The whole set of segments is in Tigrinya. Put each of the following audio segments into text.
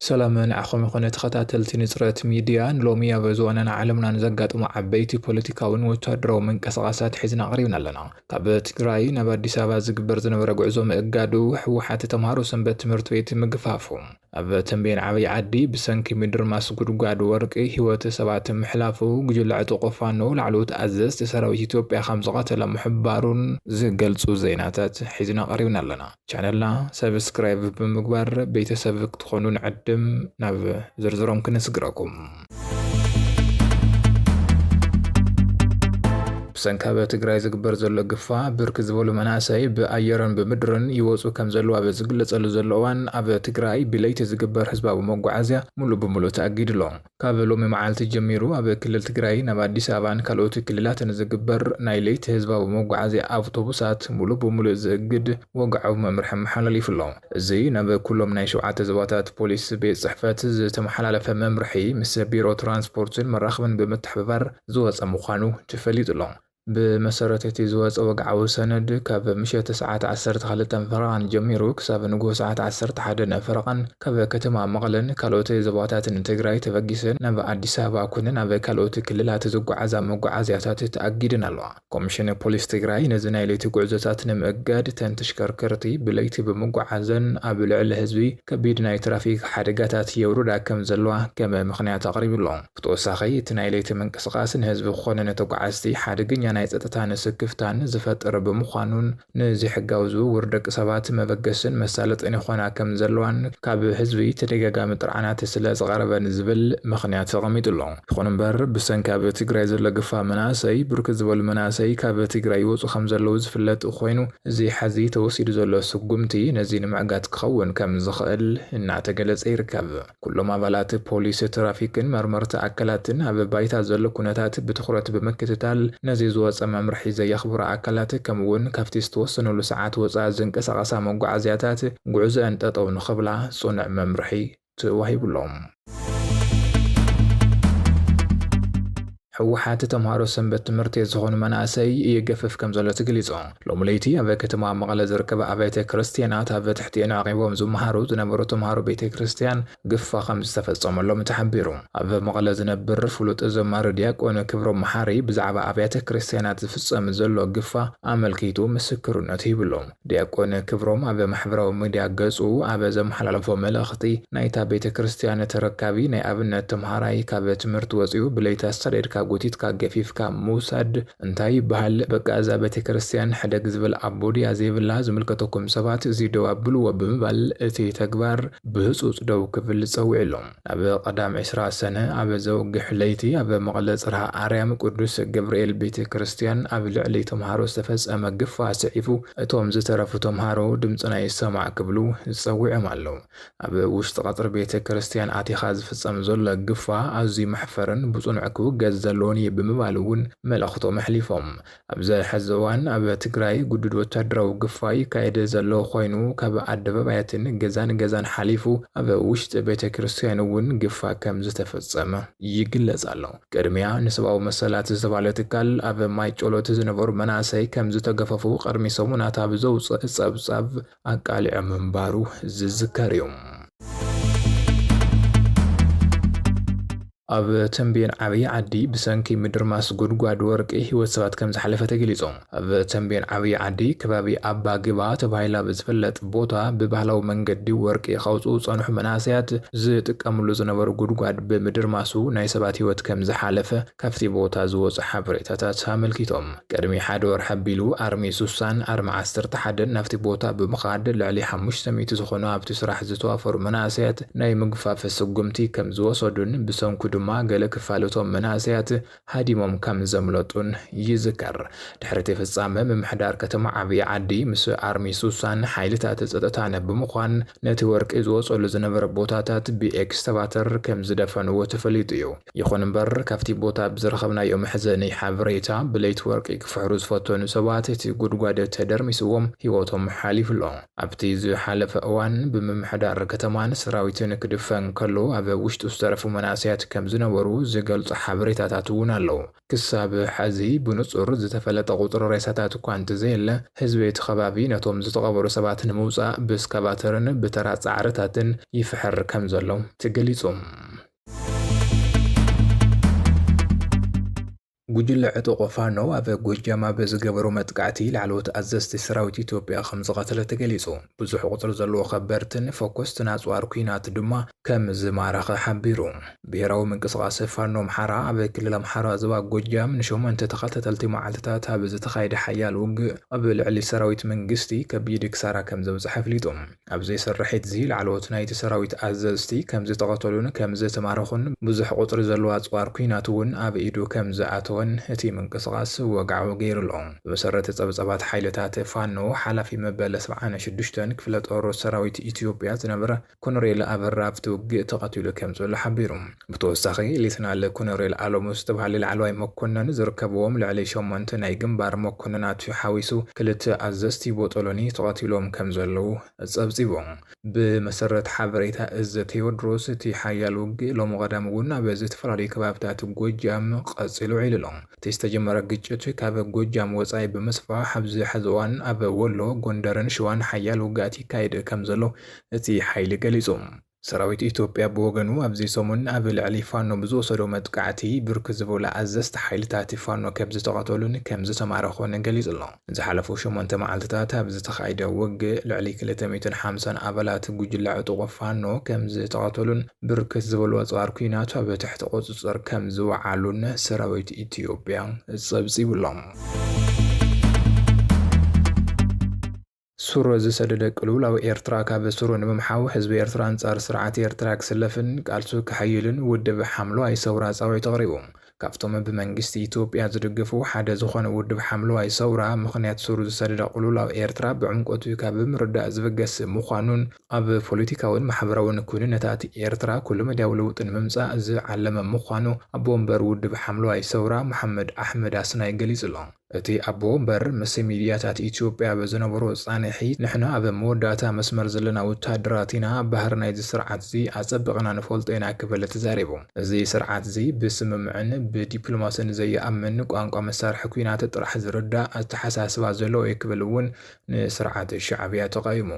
ሰላም ንዓኹም ይኹነ ተኸታተልቲ ንፅረት ሚድያ ንሎሚ ኣብ ዝወነና ዓለምናን ዘጋጥሙ ዓበይቲ ፖለቲካውን ወታደራዊ ምንቅስቓሳት ሒዝና ኣቕሪብና ኣለና ካብ ትግራይ ናብ ኣዲስ ኣበባ ዝግበር ዝነበረ ጉዕዞ ምእጋዱ ህወሓት ተምሃሮ ሰንበት ትምህርቲ ቤት ምግፋፉ ኣብ ተምቤን ዓብይ ዓዲ ብሰንኪ ምድርማስ ጉድጓድ ወርቂ ህይወት ሰባት ምሕላፉ ጉጅለ ዕጡቁ ፋኖ ላዕለዎት ኣዘዝቲ ሰራዊት ኢትዮጵያ ከምዝቐተለ ምሕባሩን ዝገልፁ ዜናታት ሒዝና ቀሪብና ኣለና። ቻነልና ሰብስክራይብ ብምግባር ቤተሰብ ክትኾኑ ንዕድም ናብ ዝርዝሮም ክነስግረኩም። ብሰንኪ ኣብ ትግራይ ዝግበር ዘሎ ግፋ ብርክ ዝበሉ መናእሰይ ብኣየርን ብምድርን ይወፁ ከም ዘለዉ ኣብ ዝግለፀሉ ዘሎ እዋን ኣብ ትግራይ ብለይቲ ዝግበር ህዝባዊ መጓዓዝያ ሙሉእ ብሙሉእ ተኣጊዱ ኣሎ። ካብ ሎሚ መዓልቲ ጀሚሩ ኣብ ክልል ትግራይ ናብ ኣዲስ ኣበባን ካልኦት ክልላትን ዝግበር ናይ ለይቲ ህዝባዊ መጓዓዝያ ኣውቶቡሳት ሙሉእ ብሙሉእ ዝእግድ ወግዓዊ መምርሒ ኣመሓላሊፉ ኣሎ። እዚ ናብ ኩሎም ናይ ሸውዓተ ዞባታት ፖሊስ ቤት ፅሕፈት ዝተመሓላለፈ መምርሒ ምስ ቢሮ ትራንስፖርትን መራኽብን ብምትሕብባር ዝወፀ ምዃኑ ተፈሊጡ ኣሎ። ብመሰረት እቲ ዝወፀ ወግዓዊ ሰነድ ካብ ምሸት ሰዓት ዓሰርተ ክልተ ፈረቓን ጀሚሩ ክሳብ ንጉሆ ሰዓት ዓሰርተ ሓደ ፈረቓን ካብ ከተማ መቐለን ካልኦት ዞባታትን ትግራይ ተበጊሰን ናብ ኣዲስ ኣበባ ኮነ ናብ ካልኦት ክልላት ዝጓዓዛ መጓዓዝያታት ተኣጊደን ኣለዋ። ኮሚሽን ፖሊስ ትግራይ ነዚ ናይ ለይቲ ጉዕዞታት ንምእጋድ እተን ተሽከርከርቲ ብለይቲ ብምጉዓዘን ኣብ ልዕሊ ህዝቢ ከቢድ ናይ ትራፊክ ሓደጋታት የውርዳ ከም ዘለዋ ከም ምኽንያት ኣቕሪቡ ኣሎ። ብተወሳኺ እቲ ናይ ለይቲ ምንቅስቓስ ንህዝቢ ኮነ ንተጓዓዝቲ ሓደገኛ ናይ ፀጥታን ስክፍታን ዝፈጥር ብምዃኑን ንዘይሕጋዊ ዝውውር ደቂ ሰባት መበገሲን መሳለጥን ይኾና ከም ዘለዋን ካብ ህዝቢ ተደጋጋሚ ጥርዓናት ስለ ዝቐረበን ዝብል ምኽንያት ተቐሚጡ ኣሎ። ይኹን እምበር ብሰንኪ ኣብ ትግራይ ዘሎ ግፋ መናእሰይ ብርክት ዝበሉ መናእሰይ ካብ ትግራይ ይወፁ ከም ዘለዉ ዝፍለጥ ኾይኑ እዚ ሐዚ ተወሲዱ ዘሎ ስጉምቲ ነዚ ንምዕጋት ክኸውን ከም ዝኽእል እናተገለፀ ይርከብ። ኩሎም ኣባላት ፖሊስ፣ ትራፊክን መርመርቲ ኣካላትን ኣብ ባይታ ዘሎ ኩነታት ብትኹረት ብምክትታል ነዚ ዝወፀ መምርሒ ዘየኽብሩ ኣካላት ከምኡ እውን ካብቲ ዝተወሰነሉ ሰዓት ወፃኢ ዝንቀሳቐሳ መጓዓዝያታት ጉዕዞኣን ጠጠው ንኽብላ ፅኑዕ መምርሒ ተዋሂቡ ኣሎ። ህወሓት ተምሃሮ ሰንበት ትምህርቲ ዝኾኑ መናእሰይ ይገፍፍ ከምዘሎ ተገሊፁ። ሎሚ ለይቲ ኣብ ከተማ መቐለ ዝርከባ ኣብያተ ክርስትያናት ኣብ ትሕቲኤን ዓቒቦም ዝመሃሩ ዝነበሩ ተምሃሮ ቤተ ክርስትያን ግፋ ከምዝተፈፀመሎም ተሓቢሩ። ኣብ መቐለ ዝነብር ፍሉጥ ዘማሪ ዲያቆን ክብሮም መሓሪ ብዛዕባ ኣብያተ ክርስትያናት ዝፍፀም ዘሎ ግፋ ኣመልኪቱ ምስክርነቱ ሂብሉ። ዲያቆን ክብሮም ኣብ ማሕበራዊ ሚድያ ገፁ ኣብ ዘመሓላለፎ መልእኽቲ፣ ናይታ ቤተ ክርስትያን ተረካቢ ናይ ኣብነት ተምሃራይ ካብ ትምህርቲ ወፂኡ ብለይቲ ኣሳዲድካ ጎቲትካ ገፊፍካ ምውሳድ እንታይ ይበሃል? በቃ እዛ ቤተ ክርስትያን ሕደግ ዝብል ኣቦ ድያ ዘይብላ? ዝምልከተኩም ሰባት እዚ ደው ኣብልዎ ብምባል እቲ ተግባር ብህፁፅ ደው ክብል ፀዊዕሎም። ኣብ ቀዳም ዕስራ ሰነ ኣብ ዘውግሕ ለይቲ ኣብ መቐለ ጽርሃ ኣርያም ቅዱስ ገብርኤል ቤተ ክርስቲያን ኣብ ልዕሊ ተምሃሮ ዝተፈጸመ ግፋ ኣስዒቡ እቶም ዝተረፉ ተምሃሮ ድምጽና ይሰማዕ ክብሉ ጸዊዖም ኣለዉ። ኣብ ውሽጢ ቀጽሪ ቤተ ክርስቲያን ኣቲኻ ዝፍጸም ዘሎ ግፋ ኣዝዩ መሕፈርን ብጽኑዕ ክውገዝ ዘለዎን እዩ ብምባል እውን መልእኽቶም ኣሕሊፎም። ኣብዚ ሕዚ እዋን ኣብ ትግራይ ግዱድ ወታደራዊ ግፋ ይካየድ ዘሎ ኮይኑ ካብ ኣደባባያትን ገዛን ገዛን ሓሊፉ ኣብ ውሽጢ ቤተ ክርስትያን እውን ግፋ ከም ዝተፈፀመ ይግለፅ ኣሎ። ቅድሚያ ንሰብኣዊ መሰላት ዝተባህለ ትካል ኣብ ማይ ጮሎት ዝነበሩ መናእሰይ ከም ዝተገፈፉ ቅድሚ ሰሙናት ኣብ ዘውፀእ ፀብፃብ ኣቃሊዑ ምንባሩ ዝዝከር እዩ። ኣብ ተምቤን ዓብይ ዓዲ ብሰንኪ ምድርማስ ጉድጓድ ወርቂ ህይወት ሰባት ከምዝሓለፈ ተገሊፁ። ኣብ ተምቤን ዓብይ ዓዲ ከባቢ ኣባ ግባ ተባሂሉ ኣብ ዝፍለጥ ቦታ ብባህላዊ መንገዲ ወርቂ ከውፅኡ ዝፀንሑ መናእሰያት ዝጥቀምሉ ዝነበሩ ጉድጓድ ብምድርማሱ ናይ ሰባት ህይወት ከምዝሓለፈ ካፍቲ ቦታ ዝወፁ ሓበሬታታት ኣመልኪቶም። ቅድሚ ሓደ ወርሒ ኣቢሉ ኣርሚ ሱሳን ኣርሚ ዓሰርተ ሓደን ናብቲ ቦታ ብምኻድ ልዕሊ ሓሙሽተ ሚእቲ ዝኾኑ ኣብቲ ስራሕ ዝተዋፈሩ መናእሰያት ናይ ምግፋፍ ስጉምቲ ከምዝወሰዱን ብሰንኩ ድማ ገለ ክፋል እቶም መናእሰያት ሃዲሞም ከምዘምለጡን ይዝከር። ድሕሪ እቲ ፍጻመ ምምሕዳር ከተማ ዓብይ ዓዲ ምስ ኣርሚ ሱሳን ሓይልታት ጸጥታን ብምዃን ነቲ ወርቂ ዝወጸሉ ዝነበረ ቦታታት ብኤክስካቫተር ከምዝደፈንዎ ተፈሊጡ እዩ። ይኹን እምበር ካብቲ ቦታ ብዝረኸብናዮ መሕዘኒ ሓበሬታ ብለይቲ ወርቂ ክፍሕሩ ዝፈተኑ ሰባት እቲ ጉድጓድ ተደርሚስዎም ህይወቶም ሓሊፉ ኣሎ። ኣብቲ ዝሓለፈ እዋን ብምምሕዳር ከተማን ሰራዊትን ክድፈን ከሎ ኣብ ውሽጡ ዝተረፉ መናእሰያት ከምዝነበሩ ዝገልጹ ሓበሬታታት እውን ኣለዉ። ክሳብ ሐዚ ብንጹር ዝተፈለጠ ቁጽሪ ሬሳታት እኳ እንተዘየለ ህዝቢ እቲ ከባቢ ነቶም ዝተቐበሩ ሰባት ንምውጻእ ብስካቫተርን ብተራ ጻዕርታትን ይፍሕር ከምዘሎ ተገሊጹ። ጉጅለ ዕጡቕ ፋኖ ኣብ ጎጃም ኣብ ዝገበሮ መጥቃዕቲ ላዕለዎት ኣዘዝቲ ሰራዊት ኢትዮጵያ ከምዝቐተለ ተገሊፁ። ብዙሕ ቁፅሪ ዘለዎ ከበርትን ፈኮስትን ኣፅዋር ኲናት ድማ ከምዝማረኸ ሓቢሩ። ብሄራዊ ምንቅስቓስ ፋኖ ኣምሓራ ኣብ ክልል ኣምሓራ ዞባ ጎጃም ንሸሞንተ ተኸታተልቲ መዓልትታት ኣብ ዝተኻየደ ሓያል ውግእ ኣብ ልዕሊ ሰራዊት መንግስቲ ከቢድ ክሳራ ከምዘብፀሐ ኣፍሊጡ። ኣብዚ ስርሒት'ዚ ላዕለዎት ናይቲ ሰራዊት ኣዘዝቲ ከምዝተቐተሉን ከምዝተማረኹን ብዙሕ ቁጽሪ ዘለዎ ኣጽዋር ኲናት'ውን ኣብ ኢዱ ከምዝኣተወን እቲ ምንቅስቓስ ወግዓዊ ገይሩ'ሎ። ብመሰረት ጸብጻባት ሓይልታት ፋኖ፣ ሓላፊ መበል ሰብዓን ሽዱሽተን ክፍለጦር ሰራዊት ኢትዮጵያ ዝነበረ ኮነሬል ኣበራ ኣብቲ ውግእ ተቐቲሉ ከምዘሎ ሓቢሩ። ብተወሳኺ ሌተናል ኮነሬል ኣለሙ ዝተብሃለ ላዕለዋይ መኮነን ዝርከብዎም ልዕሊ ሸሞንተ ናይ ግንባር መኮነናት ሓዊሱ ክልተ ኣዘዝቲ ቦጦሎኒ ተቐቲሎም ከምዘለዉ ጸብጺቡ። ብመሰረት ሓበሬታ እዝ ቴዎድሮስ እቲ ሓያል ውግእ ሎሚ ቀዳም እውን ኣብ ዝተፈላለዩ ከባብታት ጎጃም ቐጺሉ ውዒሉ ኣሎ። እቲ ዝተጀመረ ግጭት ካብ ጎጃም ወጻኢ ብምስፋሕ ኣብዚ ሐዚ እዋን ኣብ ወሎ፣ ጎንደርን ሸዋን ሓያል ውግኣት ይካየድ ከምዘሎ እቲ ሓይሊ ገሊጹ። ሰራዊት ኢትዮጵያ ብወገኑ ኣብዚ ሰሙን ኣብ ልዕሊ ፋኖ ብዝወሰዶ መጥቃዕቲ ብርክት ዝበሉ ኣዘዝቲ ሓይልታት ፋኖ ከምዝተቐተሉን ከምዝተማረኹን ገሊፁ'ሎ። ንዝሓለፉ ሸሞንተ መዓልቲታት ኣብ ዝተኻይደ ውግእ ልዕሊ ክልተ ሚእትን ሓምሳን ኣባላት ጉጅለ ዕጡቕ ፋኖ ከምዝተቐተሉን ብርክት ዝበሉ ኣፅዋር ኲናት ኣብ ትሕቲ ቁፅፅር ከምዝወዓሉን ሰራዊት ኢትዮጵያ ፀብፂቡ'ሎ። ሱር ዝሰደደ ቅልውላው ኤርትራ ካብ ሱሩ ንምምሓው ህዝቢ ኤርትራ ኣንጻር ስርዓት ኤርትራ ክስለፍን ቃልሱ ከሐይልን ውድብ ሓምለዋይ ሰውራ ጻዊዕት ኣቕሪቡ። ካብቶም ብመንግስቲ ኢትዮጵያ ዝድግፉ ሓደ ዝኾነ ውድብ ሓምለዋይ ሰውራ ምኽንያት ሱር ዝሰደደ ቅልውላው ኤርትራ ብዕምቆቱ ካብ ምርዳእ ዝብገስ ምዃኑን ኣብ ፖለቲካውን ማሕበራውን ኩንነታት ኤርትራ ኩለመዳያዊ ለውጢ ንምምጻእ ዝዓለመ ምዃኑ ኣቦ ወንበር ውድብ ሓምለዋይ ሰውራ መሓመድ ኣሕመድ ኣስናይ ገሊጹ'ሎ። እቲ ኣቦ ወንበር ምስ ሚድያታት ኢትዮጵያ ኣብ ዝነበሮ ፃንሒት፣ ንሕና ኣብ መወዳእታ መስመር ዘለና ወታደራት ኢና፣ ባህሪ ናይዚ ስርዓት'ዚ ኣፀቢቕና ንፈልጦ ኢና ክብል ተዛሪቡ። እዚ ስርዓት'ዚ ብስምምዕን ብዲፕሎማስን ዘይኣምን፣ ቋንቋ መሳርሒ ኲናት ጥራሕ ዝርዳእ ኣተሓሳስባ ዘለዎ እዩ ክብል እውን ንስርዓት ሻዕብያ ተቓዊሙ።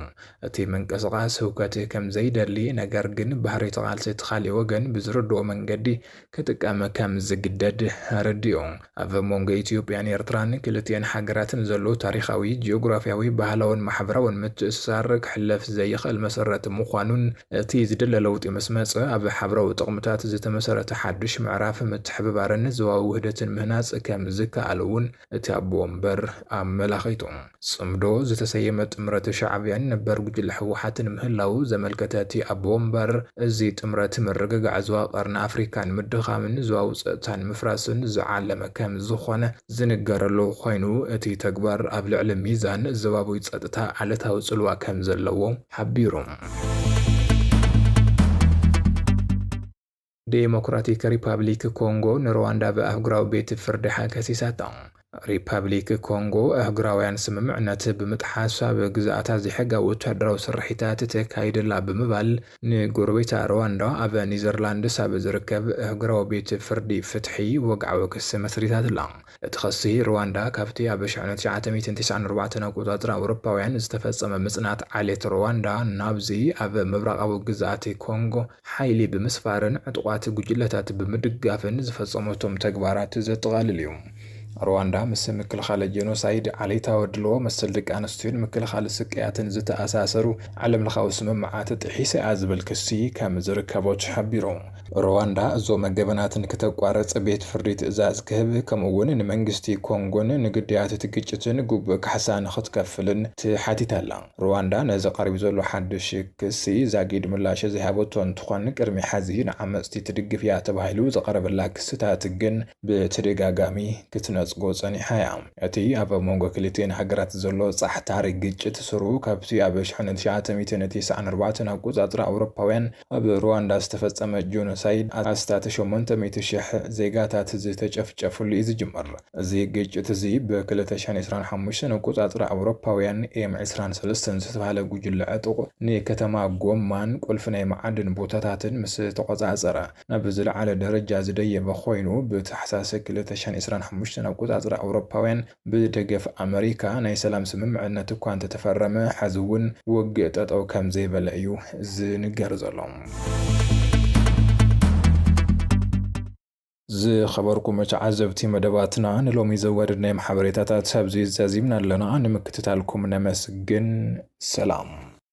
እቲ ምንቅስቓስ ህውከት ከምዘይደሊ ነገር ግን ባህሪ እቲ ቃልሲ እቲ ካሊእ ወገን ብዝርድኦ መንገዲ ክጥቀም ከም ዝግደድ ኣረዲኡ። ኣብ መንጎ ኢትዮጵያን ኤርትራን ክልቲኤን ሃገራት ንዘሎ ታሪኻዊ፣ ጂኦግራፍያዊ፣ ባህላውን ማሕበራውን ምትእስሳር ክሕለፍ ዘይኽእል መሰረት ምዃኑን እቲ ዝድለ ለውጢ ምስ መጸ ኣብ ሓብራዊ ጥቕምታት ዝተመሰረተ ሓድሽ ምዕራፍ ምትሕብባርን ዞባዊ ውህደትን ምህናጽ ከም ዝከኣል'ውን እቲ ኣቦ ወንበር ኣብ መላኺ'ቶ ጽምዶ ዝተሰየመ ጥምረት ሻዕብያን ነበር ጉጅለ ህወሓትን ምህላዉ ዘመልከተ እቲ ኣቦ ወንበር፣ እዚ ጥምረት ምርግጋዕ ዞባ ቀርኒ ኣፍሪካ ንምድኻምን ዞባዊ ጸጥታ ንምፍራስን ዝዓለመ ከምዝኾነ ዝንገረሉ ኮይኑ፣ እቲ ተግባር ኣብ ልዕሊ ሚዛን ዞባዊ ጸጥታ ዓለታዊ ጽልዋ ከምዘለዎ ሓቢሩ። ዴሞክራቲክ ሪፓብሊክ ኮንጎ ንሩዋንዳ ብኣህጉራዊ ቤት ፍርዲ ሓግ ከሲሳቶ። ሪፓብሊክ ኮንጎ ኣህጉራውያን ስምምዕነት ብምጥሓስ ኣብ ግዝኣታ ዘይሕጋዊ ወታደራዊ ስርሒታት ተካይድ ኣላ ብምባል ንጎረቤታ ሩዋንዳ ኣብ ኒዘርላንድስ ኣብ ዝርከብ ኣህጉራዊ ቤት ፍርዲ ፍትሒ ወግዓዊ ክሲ መስሪታትላ። እቲ ኸሲ፣ ርዋንዳ ካብቲ ኣብ ሽሕነ ትሽዓተ ሚእትን ተስዓን ኣርባዕተን ኣቆጻጽራ ኣውሮፓውያን ዝተፈጸመ ምጽናት ዓሌት ርዋንዳ ናብዚ ኣብ ምብራቓዊ ግዝኣት ኮንጎ ሓይሊ ብምስፋርን ዕጡቓት ጉጅለታት ብምድጋፍን ዝፈጸመቶም ተግባራት ዘጠቓልል እዩ። ርዋንዳ ምስ ምክልኻል ጀኖሳይድ፣ ዓሌታዊ ኣድልዎ፣ መሰል ደቂ ኣንስትዮን ምክልኻል ስቅያትን ዝተኣሳሰሩ ዓለምለኻዊ ስምምዓት ጥሒሳ እያ ዝብል ክሲ ከም ዝርከቦ ተሓቢሩ። ሩዋንዳ እዞም ገበናትን ክተቋርጽ ቤት ፍርዲ ትእዛዝ ክህብ ከምኡ'ውን ንመንግስቲ ኮንጎን ንግዳያት እቲ ግጭትን ግቡእ ካሕሳ ንኽትከፍልን ትሓቲት ኣላ። ሩዋንዳ ነዚ ቀሪቡ ዘሎ ሓድሽ ክሲ ዛጊድ ምላሽ ዘይሃበቶ እንትኾን ቅድሚ ሐዚ ንዓመጽቲ ትድግፍ እያ ተባሂሉ ዝቐረበላ ክስታት ግን ብተደጋጋሚ ክትነጽጎ ጸኒሓ እያ። እቲ ኣብ መንጎ ክልቲኤን ሃገራት ዘሎ ጻሕታሪ ግጭት ሱሩ ካብቲ ኣብ ሸሕነ ትሽዓተ ሚእትን ቲስዓን ኣርባዕተን ኣቆጻጽራ ኣውሮፓውያን ኣብ ሩዋንዳ ዝተፈጸመ ጆኖሳይድ ኣስታት ሸሞንተ ሚእቲ ሽሕ ዜጋታት ዝተጨፍጨፍሉ እዩ ዝጅምር። እዚ ግጭት እዚ ብ ክልተ ሽሕን ዕስራን ሓሙሽተን ኣቆጻጽራ ኣውሮፓውያን ኤም ዕስራን ሰለስተን ዝተባህለ ጉጅለ ዕጡቕ ንከተማ ጎማን ቁልፊ ናይ መዓድን ቦታታትን ምስ ተቆጻጸረ ናብ ዝለዓለ ደረጃ ዝደየበ ኮይኑ፣ ብታሕሳስ ክልተ ሽሕን ዕስራን ሓሙሽተን ኣቆጻጽራ ኣውሮፓውያን ብደገፍ ኣመሪካ ናይ ሰላም ስምምዕነት እኳ እንተተፈረመ ሐዚ እውን ውግእ ጠጠው ከምዘይበለ እዩ ዝንገር ዘሎ። ዝኸበርኩም ተዓዘብቲ መደባትና ንሎሚ ዘዋደድናዮም ሓበሬታታት ኣብዚ ዛዚምና ኣለና። ንምክትታልኩም ነመስግን። ሰላም